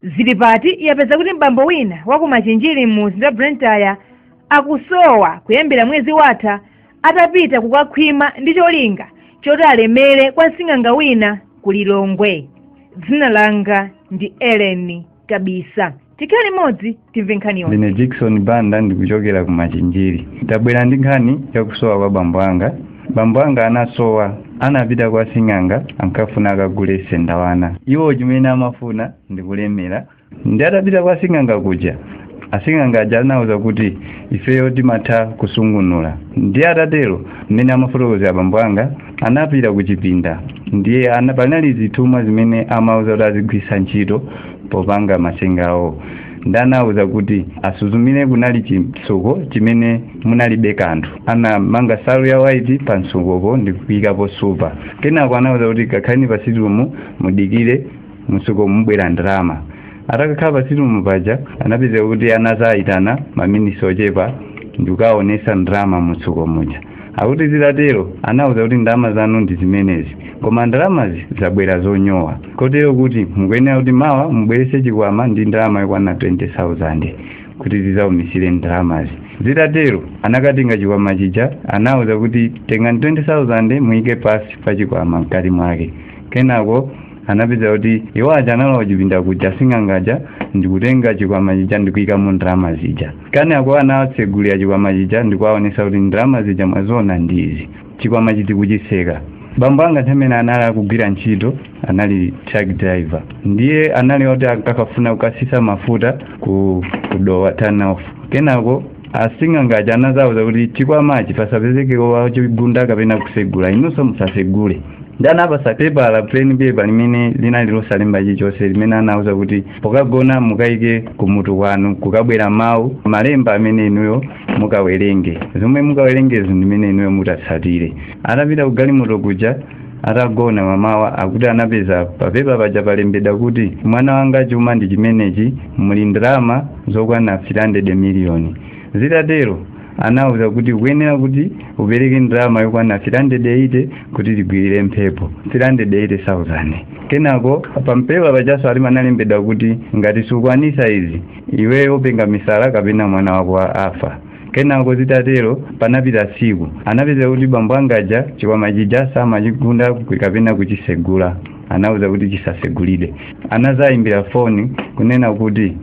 Zilipati yapeza kuti m'bambo wina wa ku Machinjiri mumzinda wa Blantyre akusowa kuyambira mwezi watha atapita kukakhwima ndi cholinga choti alemere kwa sing'anga wina ku Lilongwe. Dzina langa ndi Ellen Kabisa. Tikhale limodzi. timve nkhani yonse ndine jackson banda ndikuchokera ku machinjiri ndabwera ndi nkhani yakusowa kwa bambo anga bambo anga anasowa anapita kwa sing'anga ankafuna akagule sendawana iwo chimene amafuna ndikulemera ndi atapita kwa sing'anga kuja asing'anga aja anauza kuti ifeyo timatha kusungunula ndiye atatero mmene amafotokozera bambo anga anapita ku chipinda ndiye ana- panali zithumwa zimene amauza kuti azigwiritsa ntchito popanga masenga awo ndanauza kuti asuzumire kunali chimtsuko chimene munalibe kanthu anamanga salu ya waiti pa mtsukopo ndi kuyikapo supa kenako anauza kuti kakhaleni pa situmu mudikire mtsuko mubwera ndalama atakakhala pa situmu paja anapeza kuti anazayitana maminisi ochepa ndikukaonesa ndalama mtsuko muja akuti zitatero anauza kuti ndalama zanu ndi zimenezi koma ndalamazi zabwera zonyowa kotero kuti mukuyenera kuti mawa mubwerese chikwama ndi ndalama yokwana 20000 kuti zizaumisire ndalamazi zitatero anakatenga chikwama chija anauza kuti tengani 20000 muyike pasi pa chikwama mkati mwake kenako anapeza kuti iwo aja analowa chipinda kuja sing'angaja ndikutenga chikwama chija ndikuyikamo ndalama zija Kenako anawatsegulira chikwama chija ndikuwaonesa kuti ndalama zija mwaziona ndi izi. Chikwama chija ndikuchiseka. Bambo anga nthawi imene anali akugwira ntchito anali truck driver. Ndiye anali oti akafuna kukasisa mafuta ku, ku Dowa turn off. Kenako asing'anga aja anazawuza kuti chikwamachi pasapezeke wachigunda kapena kusegula inunso musasegule. Ndi anapasa pepala plain paper limene linali losalemba chilichonse limene anawuza kuti pokagona mukaike kumutu kwanu kukabwera mawu malemba amene inuyo mukawerenge zomwe mukawerengezo ndimene inuyo mutatsatire atapita kugalimoto kuja atagona mamawa akuti anapeza papepa paja palembedwa kuti mwana wanga chuma ndi chimenechi muli ndalama zokwana 300 miliyoni zitatero anawuza kuti ukuyenera kuti upereke ndalama yokwana 380 kuti tigwirire mphepo 380,000 kenako papepa pajaso anali analembedwa kuti ngati sukwanisa izi iweyo upenga misala kapena mwana wako afa kenako zitatero panapita tsiku anapeza kuti bambo angaja chikwama chija samachigunda kapena kuchisegula anawuza kuti chisasegulidwe anazayimbira foni kunena kuti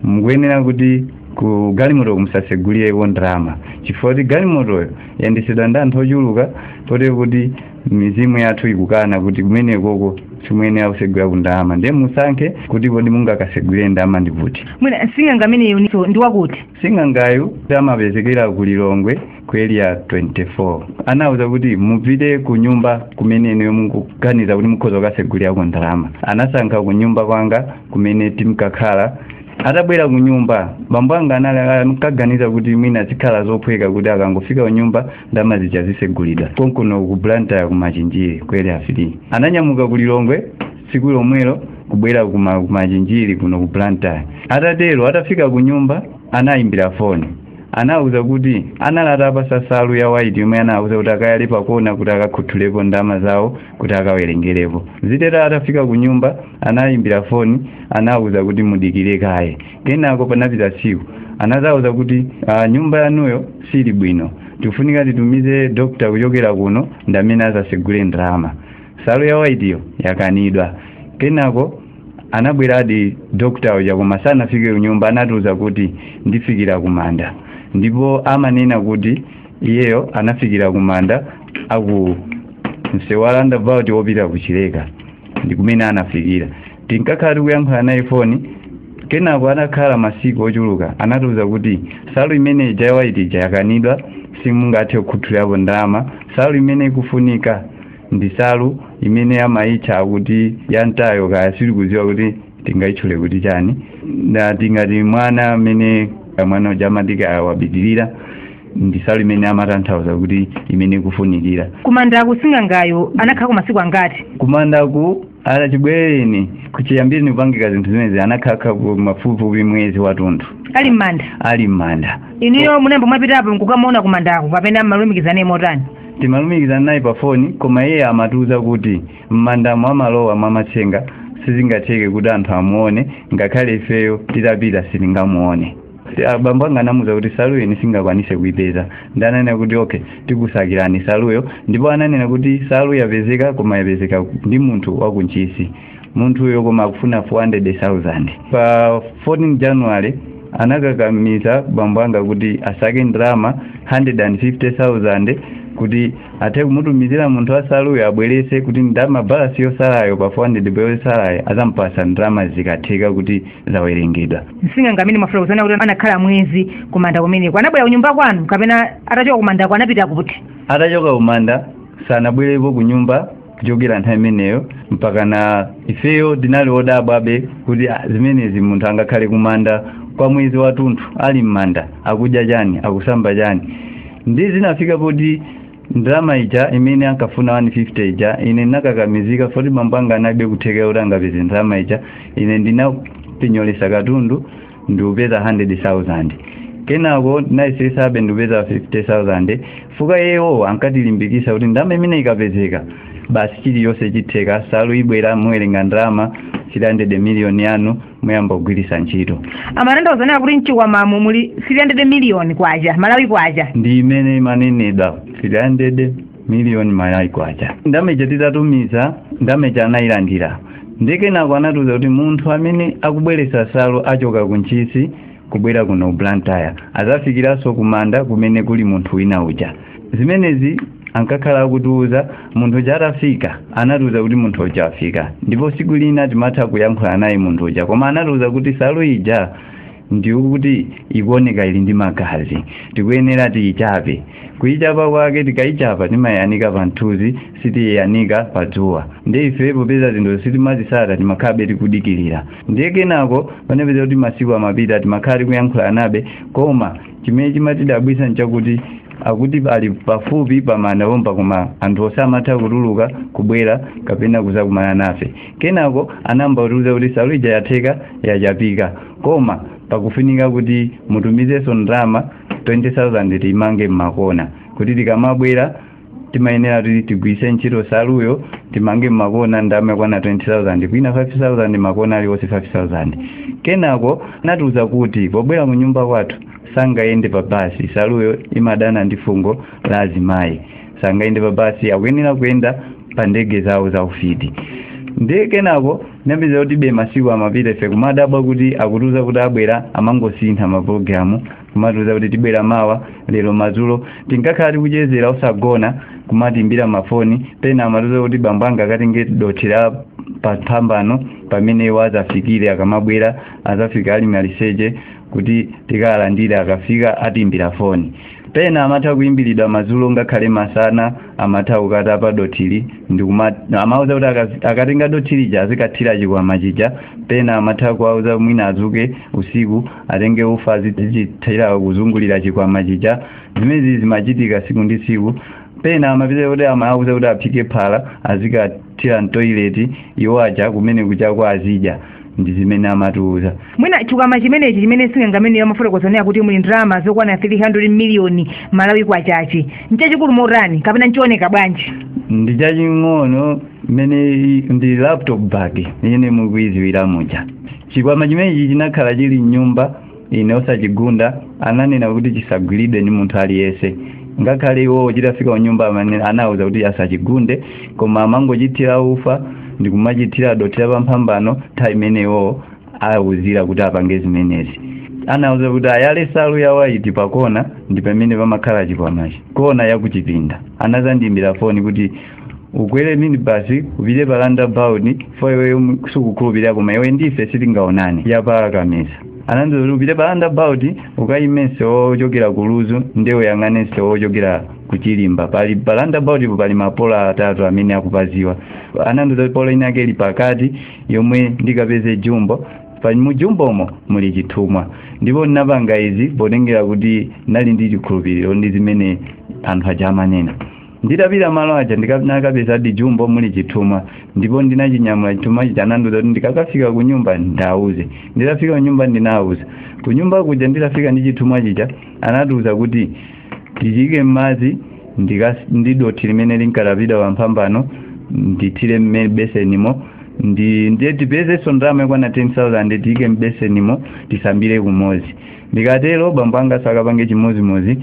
mukuyenera kuti ku galimotoko musasegulireko ndalama chifukwa kuti galimotoyo yandisidwa ndi anthu ochuluka potero kuti mizimu yathu ikukana kuti kumenekoko simuyenera kusegulako ndalama ndiye musankhe kuti kodi mungakasegulire ndalama ndi kuti mwina sing'anga ameneyo ndi wakuti sing'angayu amapezekera ku lilongwe ku area 24 anauza kuti mupite ku nyumba kumene inuyo mukuganiza kuti mukhoza kukasegulirako ndalama anasankha ku nyumba kwanga kumene timkakhala atabwera ku nyumba bambo anga anali ankaganiza kuti mwina zikhala zophweka kuti akangofika ku nyumba ndalama zija zisegulidwa konkuno ku blantyre ku machinjiri ku area 5 ananyamuka ku lilongwe tsiku lomwelo kubwera ku ma- ku machinjiri kuno ku blantyre atatero atafika ku nyumba anayimbira foni anawuza kuti anali atawapasa salu ya waiti yomwe anawuza kuti akayale pakona kuti akakhuthulepo ndalama zawo kuti akawerengerepo zitatero atafika ku nyumba anayimbira foni anawuza kuti mudikire kaye kenako panapita tsiku anazawuza kuti uh, nyumba yanuyo sili bwino tifunika titumize dokta kuchokera kuno ndi amene azasegule ndalama salu ya waitiyo yakanidwa kenako anabweradi dokta uja koma sanafike kunyumba anatiuza kuti ndifikira kumanda ndipo amanena kuti iyeyo anafikira kumanda aku msewu wa roundabout wopita kuchileka ndi kumene anafikira tinkakhala tikuyankhula naye foni kenako anakhala masiku ochuluka anatiuza kuti salu imene ija yawaiti ija yakanidwa simungathe kukhuthulirapo ndalama salu imene ikufunika ndi salu imene amayitcha kuti yantayo kaya sindikudziwa kuti tingayitchule kuti chani na tingati mwana amene mwana uja amati kaya wapitirira ndi salu imene amatanthauza kuti imene ikufunikira kumandaku sing'angayo anakhalako masiku angati kumandaku ala chibwereni kuchiyambireni kupangika zinthu zimenezi anakhalako mafupifupi mwezi wathunthu ali m'manda ali m'manda inuyo munayamba mwapitapo nkukamuona kumandako kapena mumalumikizana naye motani timalumikizana naye pa foni koma iye amatiuza kuti m'mandamo amalowa mwamatsenga sizingatheke kuti anthu amuone ngakhale ifeyo titapita sitingamuone abambo anga anamuza kuti saluyo ine sindingakwanise kuipeza ndiye ananena kuti okay tikusakirani saluyo ndipo ananena kuti salu yapezeka koma yapezeka ndi munthu waku ntchisi munthuyo koma akufuna 400000 pa 14 january anakakamiza bambo anga kuti asake ndalama 150000 kuti athe kumutumizira munthu wasaluyo abwerese kuti ndalama balasi yosalayo pa 400 yosalayo azampasa ndalama zikatheka kuti zawerengedwa sing'anga amene mukufuna kunena kuti anakhala mwezi kumanda kumeneko anabwera kunyumba kwanu kapena atachoka kumandako anapita kuti atachoka kumanda sanabwerepo kunyumba kuchokera nthawi imeneyo mpaka na ifeyo tinali odabwabe kuti ah, zimenezi munthu angakhale kumanda kwa mwezi watunthu ali m'manda akudya chani akusamba chani ndi zinafika poti ndalama ija imene ankafuna 150 ija ine ndinakakamizika poti bambo anga analibe kuthekera kuti angapeze ndalama ija ine ndinapinyolesa katundu ndikupeza 100,000 kenako ndinayesesabe ndikupeza 50,000 fuka yewo ankatilimbikisa kuti ndalama imene ikapezeka basi chilichonse chitheka salu ibwera muwerenga ndalama 300 miliyoni yanu muyamba kugwiritsa ntchito amanena zonena kuti mchikwamamo muli 300 miliyoni kwacha malawi kwacha ndi imene imanenedwa 300 miliyoni malawi kwacha ndalama ija titatumiza ndalama ija anayilandira ndikenako anatiuza kuti munthu amene akubweretsa salu achoka ku ntchisi kubwera kuno blantyre azafikiranso kumanda kumene kuli munthu wina uja zimenezi ankakhala akutiuza munthu uja atafika anatiuza kuti munthu uja afika ndipo siku lina timatha kuyankhula naye munthu uja koma anatiuza kuti salu ija ndiyo kuti ikuoneka ili ndi magazi tikuyenera tiyichape kuyichapa kwake tikayichapa timayanika pa mthunzi sitiyanika pa dzuwa ndi ife popeza zinthu sitimazitsata timakhalabe tikudikirira ndiye kenako panapezeka kuti masiku amapita timakhala tikuyankhulanabe koma chimene chimatidabwisa nchakuti akuti ali pafupi pamanda pompa koma anthu osamatha kutuluka kubwera kapena kuzakumana nafe kenako anayamba kutiuza kuti salu ija yatheka yachapika koma pakufunika kuti mutumizenso ndalama 20000 timange makona kuti tikamabwera timayenera kuti tigwiritse ntchito saluyo timange makona ndalama yakwana 20000 kwina 5000 makona aliwonse 5000 kenako anatiuza kuti pobwera ku nyumba kwathu sangayende pa basi saluyo imadana ndi fungo la azimayi sangayende pa basi akuyenera kuyenda pa ndege zawo za ufiti ndiye kenako napeza kutibe masiku amapita ife kumadabwa kuti akutiuza kuti abwera amangosintha mapulogalamu kumatiuza kuti tibwera mawa lero madzulo tinkakhala tikuchezera osagona kumatimbira mafoni pena amatiuza kuti bambo anga akatenge dothi la paphambano pamene iwo azafikire akamabwera azafika ali maliseche kuti tikawalandire akafika atimbira foni pena amatha kuimbiridwa madzulo ngakhale masana amatha kukatapa dothili ndikuma amauza kuti akazi- akatenga dothili ja azikathira chikwama chija pena amatha kuwauza mwina azuke usiku atenge ufa azichithira kuzungulira chikwama chija zimenezi zimachitika siku ndi siku pena amapita kuti amauza kuti aphike phala azikathira mtoileti iwo aja kumene kuja kwa azidya ndi zimene amatiuza mwina chikwama chimenechi chimene sing'anga ameneyo amafotokozanira kuti muli ndalama zokwana 300 miliyoni malawi kwachachi nchachikulu motani kapena nchooneka bwanji ndi chaching'ono mmene i- ndi laptop bag imene mukuidziwira muja chikwama chimenechi chinakhala chili mnyumba ine osachigunda ananena kuti chisagwiridwe ndi munthu aliyense ngakhale iwowo chitafika kunyumba amene anawuza kuti asachigunde koma amangochithira ufa ndi kumachithira dothi la pamphambano nthawi imene iwowo awuzira kuti apange zimenezi anawuza kuti ayale nsalu ya waiti pakona ndi pamene pamakhala chikwamachi kona yakuchipinda anazandimbira foni kuti ukwere minibasi upite pa roundabout po iweyo mu- sukukhulupirira koma iwe ndife sitingaonane yapa kameza anandiuza kuti upite pa roundabout ukayime msewu ochokera ku lunzu ndiye uyang'ane msewu ochokera ku chilimba pali pa roundabout po pali mapola atatu amene akupaziwa anandiuza kuti pola ina yake ili pakati yomwe ndikapeze jumbo pali mujumbomo muli chithumwa ndipo ndinapanga izi potengera kuti ndali ndi chikhulupiriro ndi zimene anthu aja amanena nditapita malo aja ndinakapezadi jumbo muli chithumwa ndipo ndinachinyamula chithumwa chija anandiuza kuti ndikakafika ku nyumba ndiwauze nditafika ku nyumba ndinawauza ku nyumba kuja nditafika ndi chithumwa chija anatiuza kuti tichiike m'madzi ndika- ndi dothi limene linkatapidwa pamphambano ndithire m'me- besenimo ndi ndiye tipezenso ndalama yokwana 10000 tiyike m'besenimo tisambire kumodzi ndikatero bambo anga akapange chimodzimodzi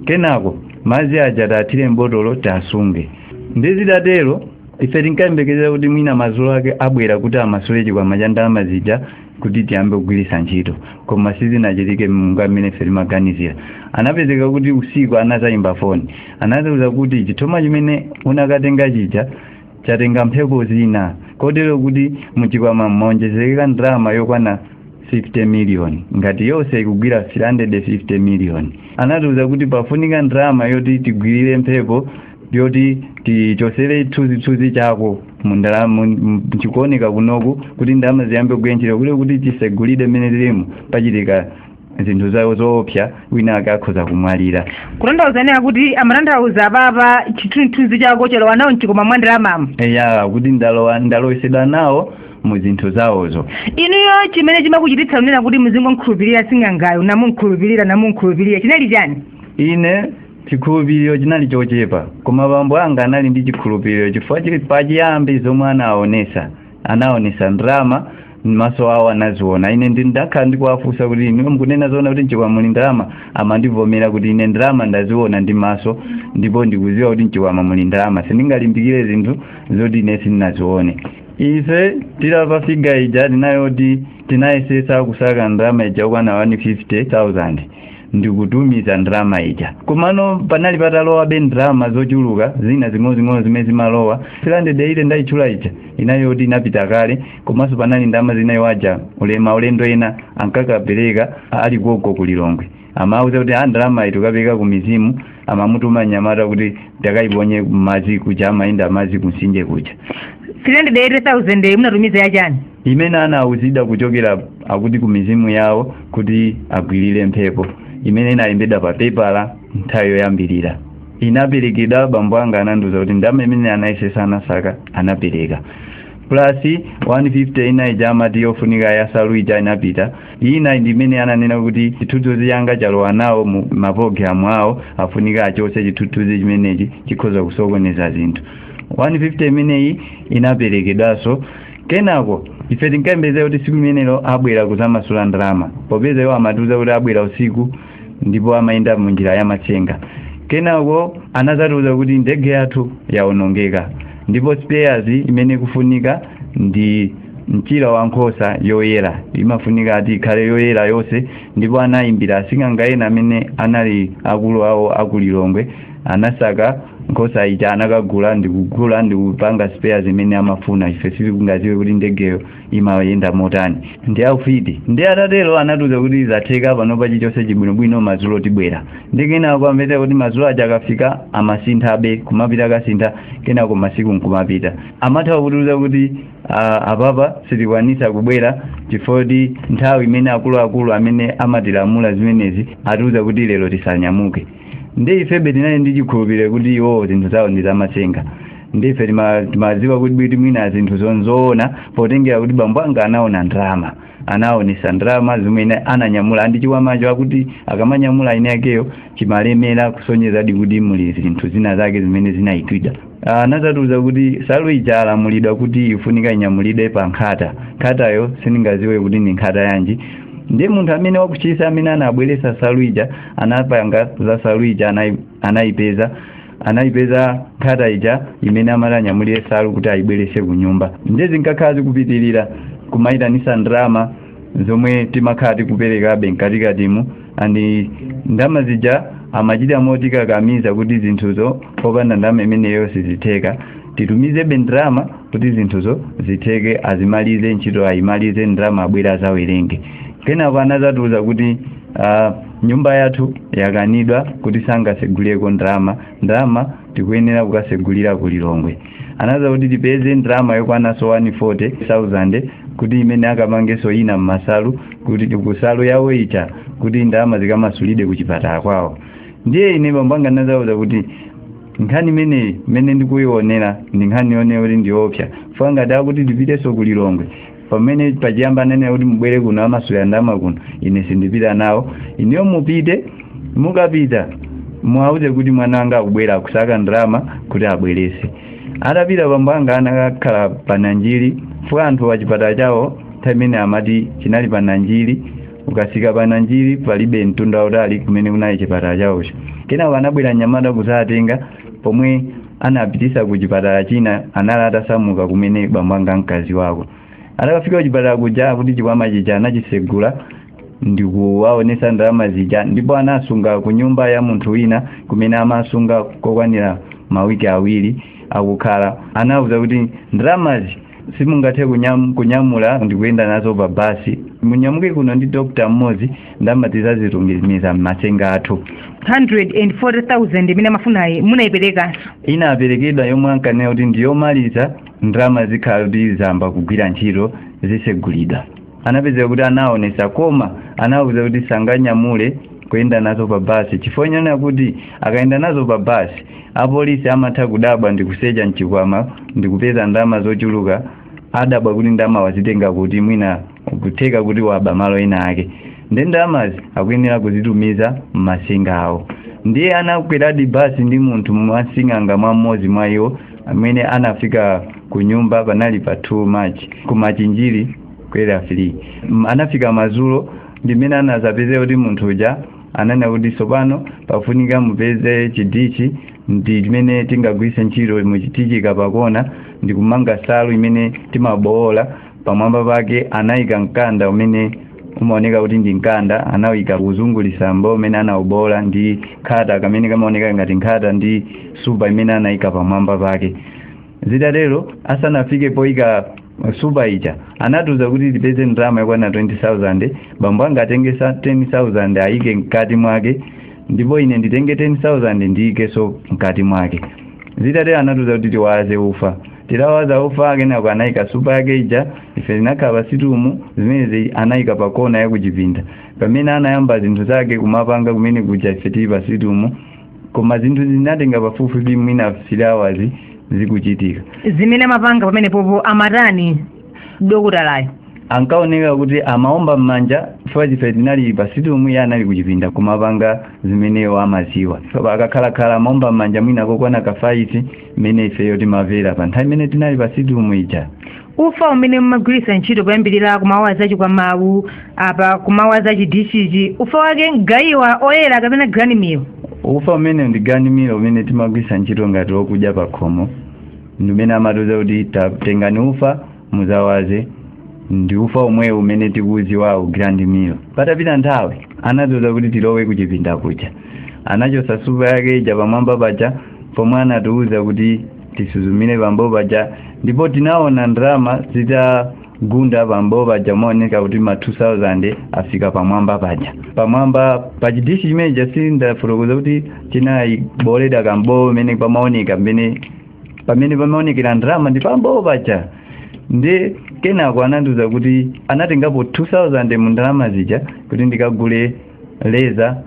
kenako madzi aja tiwathire mbotolo tiwasunge ndi zitatero ife tinkayembekezera kuti mwina madzulo ake abwera kuti amasule chikwama cha ndalama zija kuti tiyambe kugwiritsa ntchito koma sizinachitike monga mmene ife timaganizira anapezeka kuti usiku anazayimba foni anatiuza kuti chithumwa chimene unakatenga chija chatenga mphepo zina kotero kuti muchikwama mwaonjezereka ndalama yokwana 50 miliyoni ngati yonse ikugwira 350 miliyoni anatiuza kuti pafunika ndalama yoti tigwirire mphepo yoti tichosere chithunzithunzi chako chikuoneka kunoku kuti ndalama ziyambe kugwira ntchito kuti kuti tisegulire mmene tilimo pachitika zinthu zawo zoopsa wina ake akhoza kumwalira kutanthauza kunena kuti amatanthauza apapa chithunzithunzi chako chalowa nawo mchikwama mwa ndalamamu eya kuti ndalowa ndalowesedwa nawo mu zinthu zawozo inuyo chimene chimakuchititsa kunena kuti muzingomkhulupirira sing'angayo namumkhulupirira namumkhulupirira chinali chani ine chikhulupiriro chinali chochepa koma bambo anga anali ndi chikhulupiriro chifukwa choti pachiyambi zomwe anaonesa anaonesa ndalama maso awo anaziona ine ndi ndakhala ndikuwafunsa kuti inu mukunena zoona kuti mchikwama muli ndalama amandivomera kuti ine ndalama ndaziona ndi maso ndipo ndikudziwa kuti mchikwama muli ndalama sindingalimbikire zinthu zoti ine sindinazione ife tilapa figa ija tinayoti tinayesetsa kusaka ndalama ija kukwana 150000 ndikutumiza ndalama ija komano panali patalowabe ndalama zochuluka zina zing'onozing'ono zimene zimalowa 380 ndayitchula ija inayoti inapita kale komanso panali ndalama zina iwo aja maulendo ena ankakapereka ali gogo ku lilongwe amauza kuti ndalamayi tikapereka ku mizimu amamutuma nyamata kuti akaiponye m'madzi kuja amayenda m'madzi kumtsinje kuja 380,000 munatumiza yachani imene anauzidwa kuchokera akuti ku mizimu yawo kuti agwirire mphepo imene inalembedwa pa pepala nthawi yoyambirira inaperekedwa bambo anga anandiuza kuti ndalama imene anayesetsa anasaka anapereka plus 150 ina ija amati yofunika ya nsalu ija inapita ina ndi imene ananena kuti chithunzithunzi changa chalowa nawo mu mapologalamu awo afunika achotse chithunzithunzi chimenechi chikhoza kusokoneza zinthu 150 imeneyi inaperekedwanso kenako ife tinkayembekeza kuti tsiku limenelo abwera kudzamasula ndalama popeza iwo amatiuza kuti abwera usiku ndipo amayenda mu njira ya matsenga kenako anadzatiuza kuti ndege yathu yaonongeka ndipo spares imene ikufunika ndi mchira wa nkhosa yoyera imafunika ati ikhale yoyera yonse ndipo anayimbira asing'anga ena amene anali akulu awo aku lilongwe anasaka nkhosa ija anakagula ndikugula ndikupanga spares imene amafuna ife sitingadziwe kuti ndegeyo imayenda motani ndi aufiti ndi atatero anatiuza kuti zatheka panopa chilichonse chibwinobwino madzulo tibwera ndi kenako zimatheka kuti madzulo aja akafika amasinthabe kumapita akasintha kenako masiku nkumapita amatha kutiuza kuti ah, apapa sitikwanitsa kubwera chifukwa choti nthawi imene akuluakulu amene amatilamula zimenezi atiuza kuti lero tisanyamuke ndi ifebe tinali ndi chikhulupiriro kuti iwo zinthu zawo ndi zamatsenga ndi ife tima- timadziwa kuti ndithu mwina zinthu nzoona potengera kuti bambo anga anaona ndalama anaonetsa ndalama zimene ananyamula and chikwamacho akuti akamanyamula mwini wakeyo chimalemera kusonyezadi kuti muli zinthu zina zake zimene zinaikidwa anadzatiuza kuti nsalu ija alamulidwa kuti ifunika inyamulidwe pa nkhata nkhatayo sindingadziwe kuti ndi nkhata yanji ndiye munthu amene wa ku ntchisi amene anabweretsa nsalu ija anapanga za nsalu ija anai- anayipeza anayipeza nkhata ija imene amati anyamulire nsalu kuti ayibweretse ku nyumba ndiye zinkakhala zikupitirira kumayitanitsa ndalama zomwe timakhala tikuperekabe mkatikatimu ndiye ndalama zija amachita motikakamiza kuti zinthuzo popanda ndalama imeneyo sizitheka titumizebe ndalama kuti zinthuzo zitheke azimalize ntchito ayimalize ndalama abwere azawerenge kenako anazatiuza kuti uh, nyumba yathu yakanidwa kuti sangasegulireko ndalama ndalama tikuyenera kukasegulira ku lilongwe anauza kuti tipeze ndalama yokwanaso 140,000 kuti imene akamangeso ina mmasalu kuti kusalu yawo ita kuti ndalama zikamasulidwe ku chipatala kwawo ndiye ine bambanga ndinazauza kuti nkhani imeneyi imene ndikuionera ndi nkhani yoneyo kuti ndiopsa fangati akuti tipiteso ku lilongwe pamene pachiyamba ananena kuti mubwere kuno amasulira ndalama kuno ine sindipita nawo ineyo mupite mukapita muwauze kuti mwana wanga akubwera akusaka ndalama kuti abwerese atapita bambo anga anakakhala pa nanjiri chifukwa anthu wa chipatala chawo nthawi imene amati chinali pa nanjiri ukasika pa nanjiri palibe mtunda utali kumene kunali chipatala chawocho kenako anabwera mnyamata kudzawatenga pomwe anapitisa ku chipatala china anali atasamuka kumene bambo anga mkazi wawo atakafika ku chipatala kuja akuti chikwama chija anachisegula ndikuwaonesa ndalama zija ndipo anasunga ku nyumba ya munthu wina kumene amasunga kokwanira mawiki awiri akukhala anauza kuti ndalamazi simungathe kunyam, kunyamula ndikuyenda nazo pa basi munyamuke kuno ndi dokta mmodzi ndalama tizazitumiza m'masenga athu 140,000 imene amafunayi munayiperekanso inaperekedwa yomwe ankanena kuti ndiyomaliza ndalama zikhala kuti zayamba kugwira ntchito zisegulidwa anapezeka kuti anaonesa koma anawuza kuti sanganyamule kuyenda nazo pa basi chifukwa chonena kuti akayenda nazo pa basi apolisi amatha kudabwa ndi kusecha mchikwama ndi kupeza ndalama zochuluka adabwa kuti ndalama wazitenga kuti mwina kutheka kuti waba malo ena ake ndi ndalamazi akuyenera kuzitumiza m'masenga awo ndiye anakweradi basi ndi munthu mwasing'anga mwa mmodzi mwa iwo amene anafika ku nyumba panali pa 2 march ku machinjiri ku Area 3 anafika mazulo ndimene anazapezera kuti munthu uja ananena kuti tsopano pafunika mupeze chidichi ndi chimene tingagwiritse ntchito mu- tichika pakona ndikumanga salu imene timabowola pamwamba pake anayika mkanda umene umaoneka kuti ndi mkanda anawuyika kuzungulitsa mbowo umene anawubowola ndi nkhata kamene kamaoneka ngati nkhata ndi supa imene anayika pamwamba pake zitatero asanafike poyika supa ija anatiuza kuti tipeze ndalama yokwana 20000 bambo anga atenge sa- 10000 ayike mkati mwake ndipo ine nditenge 10000 ndiyikeso mkati mwake zitatero anatiuza kuti tiwaze ufa tirawaza ufa kenako anayika supa yake ija ife tinakhala pasitumu zimenezi anayika pa kona ya kuchipinda pamene anayamba zinthu zake kumapanga kumene kuja ife tili pasitumu koma zinthu zinatenga pafupifupi mwina 3 hours zikuchitika zimene amapanga pamenepopo amatani dokotalayo ankaoneka kuti amaomba m'manja chifukwa ife tinali pasitumu iye anali kuchipinda kumapanga zimene iyeyo amaziwa akakhalakhala amaomba m'manja mwina kokwana kafaiti mmene ifeyo timavera pa nthawi imene tinali pa situmu ija ufa umene mumagwiritsa ntchito poyambirira kumawaza chikwama u apa kumawaza chidishichi ufa wake mgayiwa oyera kapena grand meal ufa umene ndi grand meal umene timagwiritsa ntchito ngati wokudya pa khomo ndi umene amatiuza kuti ta- tengani ufa mudzawaze ndi ufa omwewo umene tikuudziwawu grand meal patapita nthawi anatiuza kuti tilowe kuchipinda kuja anachosa supa yake ija pamwamba paja pomwe anatiuza kuti tisuzumire pambowo paja ndipo tinaona ndalama zitagunda pambowo paja mooneka kuti ma 2000 afika pamwamba paja pamwamba pa chidishi chimenecha sindafotokoza kuti chinabooledwa kambowo imene pamaoneka mmene pamene pamaonekera ndalama ndi pambowo paja ndi kenako anandiuza kuti anatengapo 2000 mu ndalama zija kuti ndikagule leza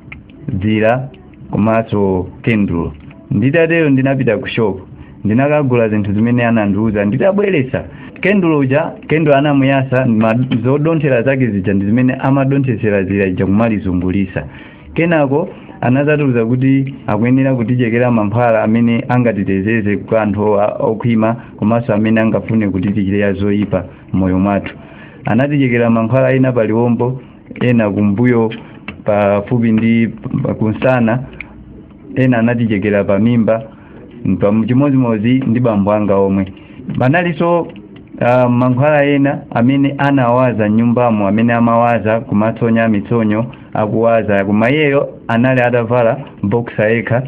dzira komanso kendulo nditatero ndinapita ku shop ndinakagula zinthu zimene anandiuza nditabweresa kendulo uja kendulo anamuyasa ma- zodonthera zake zija ndi zimene amadonthesera zira ija kumalizungulisa kenako anazatiuza kuti akuyenera kutichekera mankhwala amene angatiteteze kwa anthu o- okhwima komanso amene angafune kutichitira zoyipa m'moyo mwathu anatichekera mankhwala ena pa liwombo ena kumbuyo pafupi ndi pa- kumsana ena anatichekera pa mimba mpam- chimodzimodzi ndi bambo anga omwe panalinso uh, mankhwala ena amene anawaza m'nyumbamo amene amawaza kumatsonya mitsonyo akuwaza koma iyeyo anali atavala boksa yekha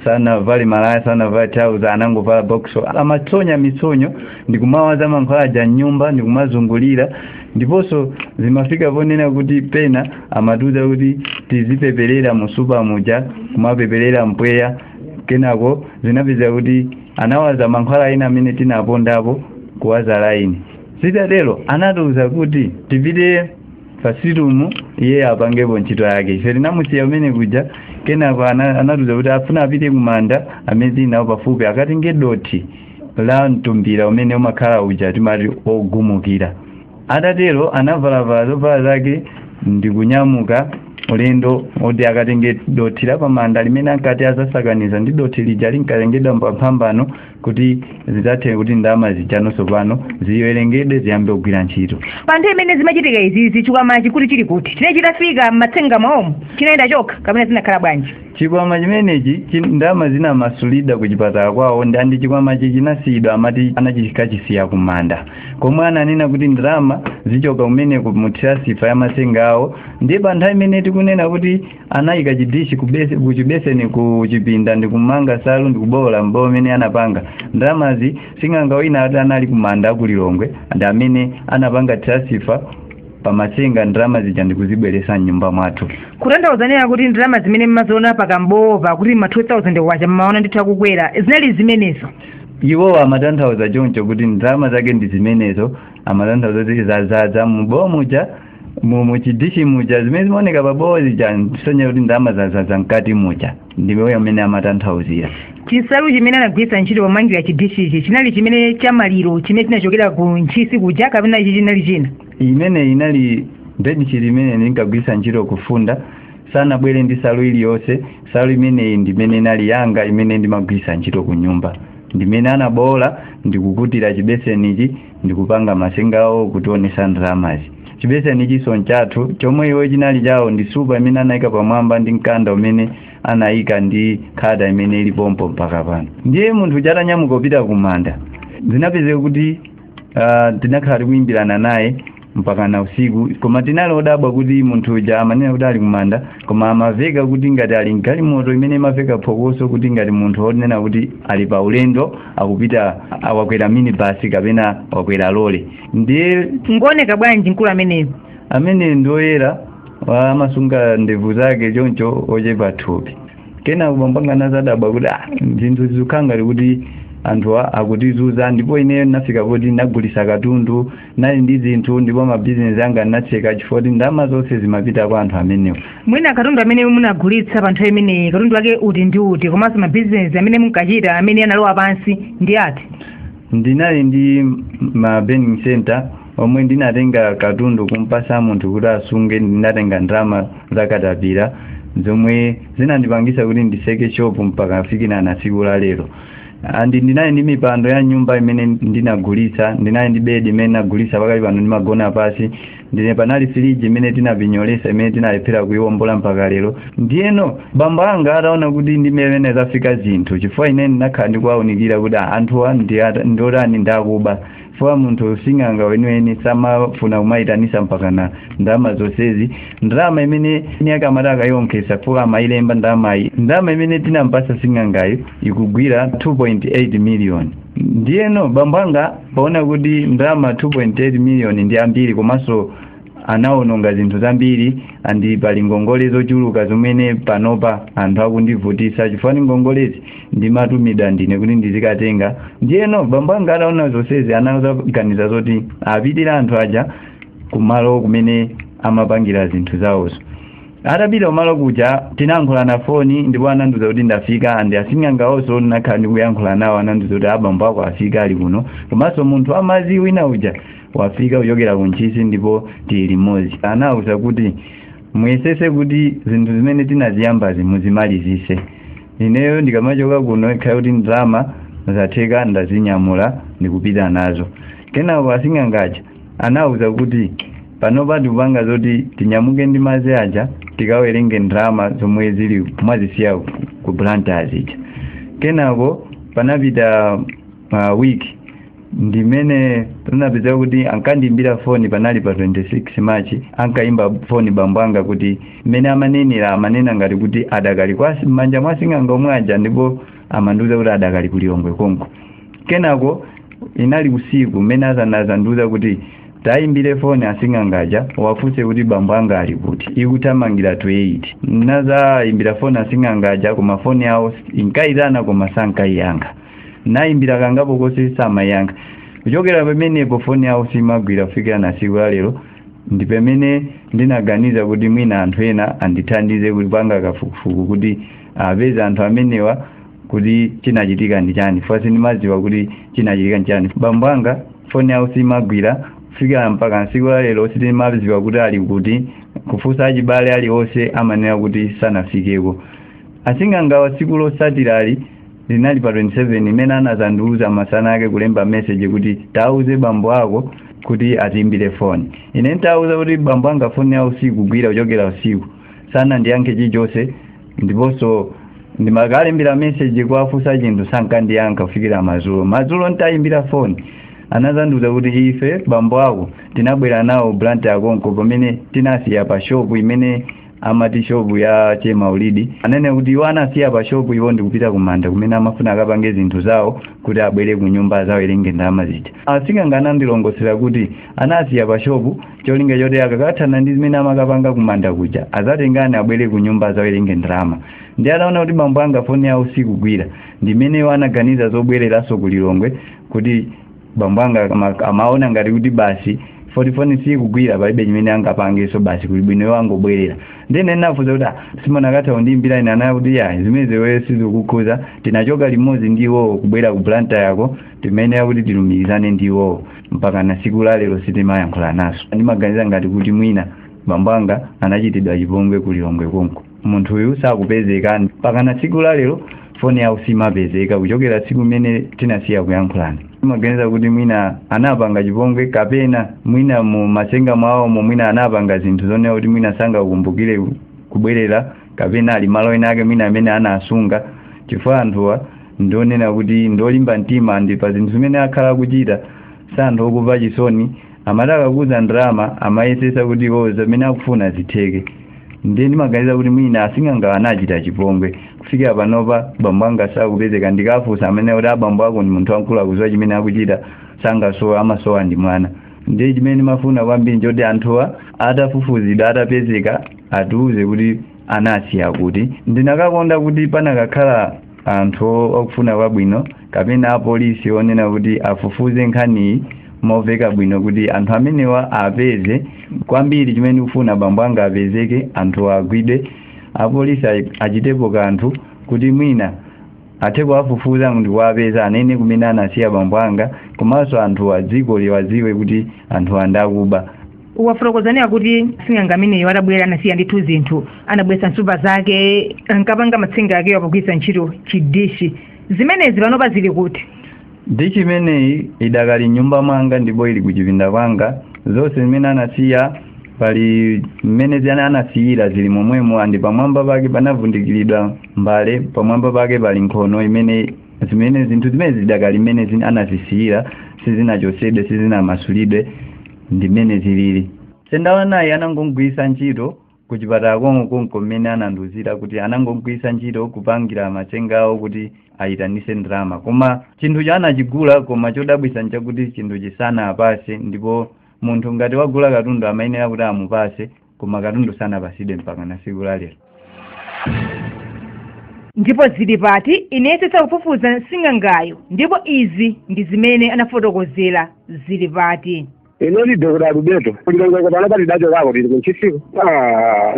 sanavale malaya sanavale trouser anangovala boksa amatsonya mitsonyo ndikumawaza mankhwala aja m'nyumba ndikumazungulira ndiponso zimafika ponena kuti pena amatiuza kuti tizipeperera musupa muja kumapeperera mpweya kenako zinapezeka kuti anawaza mankhwala ena amene tinapondapo kuwaza laini zitatero anatiuza kuti tipite pasitumu iye apangepo ntchito yake ife tinamusiya kumene kuja kenako ana- anatiuza kuti afuna apite kumanda amene tili nawo pafupi akatenge dothi la mtumbira umene umakhala uja timati ogumukira atatero anavalavala zovala zake ndi kunyamuka ulendo oti akatenge dothi la pamanda limene ankati azasakaniza ndi dothi lija linkatengedwa pamphambano kuti zidzathe kuti ndalama zijanonso pano ziwerengedwe ziyambe kugwira ntchito pa nthawi imene zimachitika izizi chikwamachi kuti chili kuti chinali chitafika m'matsenga mwawomo chinayenda chokha kapena zinakhala bwanji chikwama chimenechi chi- ndalama zinamasulidwa ku chipatala kwawo ndi andi chikwamachi chinasiyidwa amati anachikachisiya kumanda komwe ananena kuti ndalama zichoka kumeneko mu transfer ya matsenga awo ndiye pa nthawi imene tikunena kuti anayika chidishi kubese- kuchibeseni ku chipinda ndi kumanga salu ndi kubowola mbowo mmene anapanga ndalamazi sing'anga wina ati anali kumanda aku Lilongwe ndi amene anapanga transfer pa matsenga ndalama zija ndi kuzibweresa mnyumba mwathu kutanthauza nena kuti ndalama zimene mmaziona pakambowopa kuti ma 2000 kwacha mmaona ndithu akukwera zinali zimenezo iwo amatanthauza choncho kuti ndalama zake ndi zimenezo amatanthauza kuti zazadza mubowo muja mu- muchidishi muja zimene zimaoneka pabowo zija zikusonyeza kuti ndalama zazadza mkati muja ndiye mmene amatanthauzira chisalu chimene anagwiritsa ntchito pomangira chidishichi chinali chimene cha maliro chimene chinachokera ku ntchisi kuja kapena ichi chinali china imene inali bedsheet imene ndinkagwiritsa ntchito kufunda sanabwere ndi salu iliyonse salu imeneyi ndimene inali yanga imene ndimagwiritsa ntchito ku nyumba ndimene anabowola ndikukutira chibesenichi ndikupanga masenga awo kutionesa ndalamazi chibesenichinso nchathu chomwe iwo chinali chawo ndi nsupa imene anayika pamwamba ndi mkanda umene anayika ndi khata imene ili pompo mpaka pano ndiye munthu chatanyamuka kupita kumanda zinapezeka kuti Ah, tinakhala tikuyimbirana naye mpaka na usiku koma tinali odabwa kuti munthu uja amanena kuti ali kumanda koma amaveka kuti ngati ali mgalimoto imene imaveka phokoso kuti ngati munthu onena kuti ali pa ulendo akupita wakwera minibasi kapena wakwera lole ndiye ngooneka bwanji mkulu ameneyo amene ndoyera amasunga ndevu zake choncho ochepa thupi kenaka bambo anga anazadabwa kuti ah, zinthu zikukhala ngati kuti anthu a- akutizuza ndipo ineyo ndinafika poti ndinagulisa katundu nali ndi zinthu ndipo mabizinesi anga ndinatseka chifukwa choti ndalama zonse zimapita kwa anthu amenewo mwina katundu amene munagulitsa pa nthawi imeneyi katundu wake uti ndi uti komanso mabizinesi amene munkachita amene analowa pansi ndi ati ndinali ndi ma burning center omwe ndinatenga katundu kumpasa munthu kuti asunge ndinatenga ndalama zakatapira zomwe zinandipangisa kuti ndiseke shopu mpaka kufikira na tsiku la lero andi ndinali ndi mipando ya nyumba imene ndinagulitsa ndinali ndi bedi imene ndinagulitsa pakali pano ndimagona pasi ndiye panali firiji imene tinapinyolesa imene tinalephera kuiwombola mpaka lero ndiyeno bambo anga ataona kuti ndi mmene zafika zinthu chifukwa ine ndinakhala ndikuwaunikira kuti anthuwa ndi otani ndi akuba chifukwa munthu sing'anga weniweni samafuna kumayitanisa mpakana ndalama zonsezi ndalama imene ni akamati akayonkhetsa chifukwa amayilemba ndalamayi ndalama imene tinampasa sing'angayo ikugwira 2.8 miliyoni ndiyeno bambo anga poona kuti ndalama 2.8 miliyoni ndi ambiri komanso anawononga zinthu zambiri andi pali ngongole zochuluka zimene panopa anthu akundivutisa chifukwa ngongolezi ndimatumidwa ndine kuti ndizikatenga ndiyeno bambo anga ataona zonsezi anaganiza zoti apitire anthu aja kumalo kumene amapangira zinthu zawozo atapita kumalo kuja tinayankhulana foni ndipo anandiuza kuti ndafika andi asing'angawonso ndinakhala ndikuyankhula nawo anandiuza kuti abambo ako afika ali kuno komanso munthu wa madzi wina uja wafika kuchokera ku ntchisi ndipo tili limodzi anawuza kuti muyesetse kuti zinthu zimene tinaziyambazi muzimalizitse ineyo ndikamachoka kuno ikhale kuti ndalama zatheka ndazinyamula ndikupita nazo kenako asing'anga aja anawuza kuti panopa tikupanga zoti tinyamuke ndi madzi aja tikawerenge ndalama zomwe zili mwazisiya ku blantyre zija kenako panapita pa week ndimene tinapeza kuti ankandiimbira foni panali pa 26 march ankaimba foni bambo anga kuti mmene amanenera amanena ngati kuti adakali m'manja mwa sing'anga omwe aja ndipo amandiuza kuti adakali ku lilongwe konko kenako inali usiku mmene anazandiuza kuti tayimbire foni asing'angaja uwafunse kuti bambo anga ali kuti ikuthamangira 28 nazayimbira foni asing'angaja koma foni yawo inkayitana koma sankayiyankha nayimbira kangapo konse samayankha kuchokera pamenepo foni yawo simagwira kufikira na tsiku la lero ndi pamene ndinaganiza kuti mwina anthu ena andithandize kutipangira kafukufuku kuti apeze anthu amenewa kuti chinachitika ndi chani chifukwa sindimadziwa kuti chinachitika ndi chani bambo anga foni yawo simagwira kufikira mpaka tsiku la lero sitimadziwa kuti ali kuti kufunsa achibale aliwonse amanena kuti sanafikeko asing'angawa tsiku lotsatiralo linali pa 27 imene anazandiuza masana ake kulemba message kuti tauze bambo ako kuti atiimbire foni ine ntauza kuti bambo anga foni yawo sikugwira kuchokera usiku sanandiyankhe chilichonse ndiponso ndimakalembera message kuwafunsa chinthu sankandiyankha kufikira madzulo madzulo ntayimbira foni anazandiuza kuti ife bambo ako tinabwera nawo blantyre konko pamene tinawasiya pa shopu imene amati shopu ya che maulidi anene kuti iwo anasiya pa shopu iwo ndikupita kumanda kumene amafuna akapange zinthu zawo kuti abwere ku nyumba azawerenge ndalama zija asing'anga anandilongosolera kuti anasiya pa shopu cholinga choti akakathana ndi zimene amakapanga kumanda kuja azatengane abwere ku nyumba azawerenge ndalama ndi anaona kuti bambo anga foni yawo sikugwira ndimene iwo anaganiza zobwereranso ku lilongwe kuti bambo anga ama- amaona ngati kuti basi 4 4 foni sikugwira palibe chimene angapangeso basi kuli bwino iwo angobwerera ndiye ndafunsa kuti "Ah, simunakatha kundiimbira ine anayankha kuti ya zimenezo weyo sizikukukhuza tinachoka limodzi ndi iwowo kubwera ku Blantyre yako zimene akuti tilumikizane ndi iwowo mpaka na siku la lero sitimayankhula naso ndimaganiza ngati kuti mwina bambo anga anachitidwa chipongwe ku lilongwe konko munthuyu sakupezeka mpakana tsiku la lero foni yawo simapezeka kuchokera tsiku limene tinasiya kuyankhulana ndimaganiza kuti mwina anapanga chipongwe kapena mwina mu masenga mwawomo mwina anapanga zinthu zonena kuti mwina sangakumbukire kubwerera kapena ali malo ena ake mwina amene anasunga chifukwa anthuwa ndi onena kuti ndiolimba mtima ndi pa zinthu zimene akhala akuchita si anthu okumva chisoni amati akakuza ndalama amayesesa kuti iwo zimene akufuna zitheke ndiye ndimaganiza kuti mwina asing'anga anachita chipongwe kufikira panopa bambo anga sakupezeka ndikafunsa amanena kuti abambo ako ndi munthu wamkulu akuziwa chimene akuchita sangasowe amasowa ndi mwana ndiye chimene ndimafuna kwambiri n'choti anthuwa atafufuzidwa atapezeka atiuze kuti anawasiya kuti ndinakakonda kuti panakakhala anthu okufuna kwabwino kapena apolisi onena kuti afufuze nkhaniyi moveka bwino kuti anthu amenewa awapeze kwambiri chimene ndikufuna bambo anga apezeke anthuwa agwidwe apolisi achitepo kanthu kuti mwina athe kuwafufuza ndi kuwapeza anene kumene anawasiya bambo anga komanso anthuwa dziko liwadziwe kuti anthuwa ndi akuba wafotokoza zakuti sing'anga ameneyo atabwera anasiya ndithu zinthu anabweretsa nsupa zake ankapanga matsenga akewo pogwiritsa ntchito chidishi zimenezi panopa zili kuti dishi imeneyi idakali m'nyumba mwanga ndipo ili kuchipinda kwanga zonse zimene anasiya pali mmene zimene anasiyira zili momwemo and pamwamba pake panavundikiridwa mbale pamwamba pake pali nkhono imene zimene zinthu zimene zidakali mmene zin- anazisiyira sizinachotsedwe sizinamasulidwe ndi mmene zilili sendawanayi anangogwiritsa ntchito ku chipatala konko konko mmene anandiuzira kuti anangogwiritsa ntchito kupangira matsenga awo kuti ayitanise ndalama koma chinthuchi anachigula koma chodabwitsa nchakuti chinthuchi sanawapase ndipo munthu ngati wagula katundu amayenera kuti amupase koma katundu sanapasidwe mpaka na siku la lero ndipo zili pati inayesetsa kufufuza sing'angayo ndipo izi ndi zimene anafotokozera zili pati ine ndi dokota alubeto ku Lilongwe pano pali dacho kako tili kunchisiku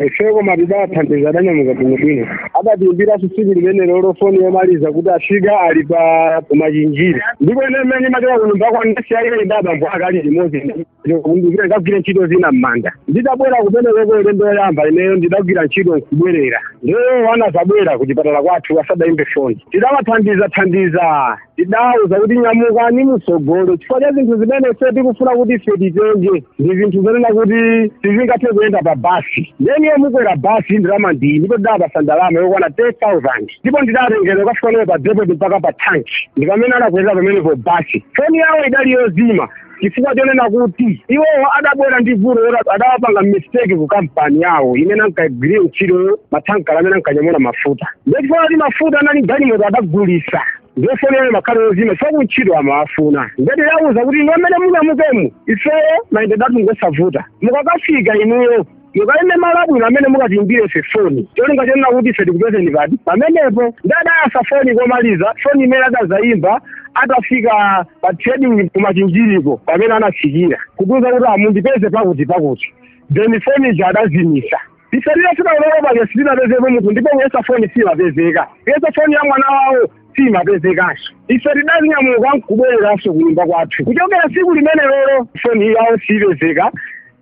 ifeyo koma tidawathandiza adanyamuka bwinobwino adatiimbira tsiku limenelolo foni yomaliza kuti afika ali pa ku Machinjiri ndipo ine mmene ndimachoka kunyumba kwa nesi yaile ndi abambo akali limodzi ndikumbukira ndagwira ntchito zina m'manda ndidabwera kumenekoko ulendo woyamba ineyo ndidagwira ntchito nkubwerera nde iwo anazabwera ku chipatala kwathu asadayimbe foni tidawathandiza thandiza tidawauza kuti nyamukani mutsogole chifukwa cha zinthu zimene ife tikufuna kuti ife titenge ndi zinthu zonena kuti sizingathe kuyenda pa basi nde inuyo mukwera basi ndalama ndiyi ndipo ndidawapatsa ndalama yokwana 10000 ndipo ndidawatengera kukafika nawo pa depoti mpaka pa tanki ndipamene anakwerera pamenepo basi foni yawo idali yozima chifukwa chonena kuti iwowo adabwera ndi vuto loti adapanga mistake ku kampani yawo imene ankagwirira ntchito mathankala amene ankanyamula mafuta ndiye chifukwa kuti mafuta anali m'galimoto adagulisa nde foni yawo imakhala yozima chifukwa kuntchito amawafuna nde tidawauza kuti inu mmene munyamukemu ifeyo mayendedatu ngosavuta mukakafika inuyo mukaime malo abwino amene mukatiimbire ife foni cholinga chonena kuti ife tikupezeni pati pamenepo nde adayasa foni komaliza foni imene adazayimba atafika pa trading kumachinjiriko pamene anafikira kutiuza kuti ah mundipeze pakuti pakuti then foni ija adazimisa ife tidafika ulendo uja sitinapezepo munthu ndipo kuyesa foni simapezeka kuyesa foni ya mwana wawo simapezekanso ife tidazinyamuka nkubwereranso kunyumba kwathu kuchokera tsiku limenelolo foni yawo siyipezeka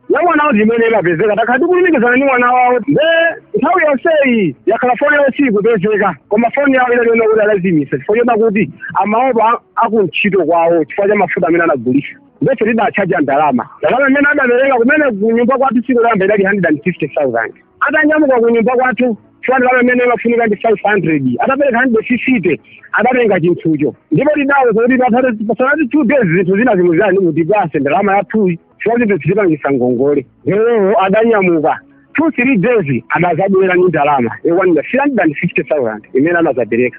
ya mwana wawo ndi imene imapezeka takhala tikulumikizana ndi mwana wawo nde nthawi yonseyi yakhala foni yawo siyikupezeka koma foni yawo inali yonena kuti adazimitsa chifukwa chonena kuti amaopa akuntchito kwawo chifukwa cha mafuta amene anagulisa nde ife tidatchaja ndalama ndalama imene adapereka kumene kunyumba kwathu tsiku loyamba idali 150000 atanyamuka kunyumba kwathu chifukwa ndalama imene imafunika ndi 500 atapereka 150 adatenga chinthucho ndipo tidawauza kuti pasanathe two days zinthu zina zimuzani mutipase ndalama yathuyi chifukwa chinthu tichipangisa ngongole lero adanyamuka two three days adazabwera ni ndalama yokwanira three hundred and fifty thousand imene anazapereka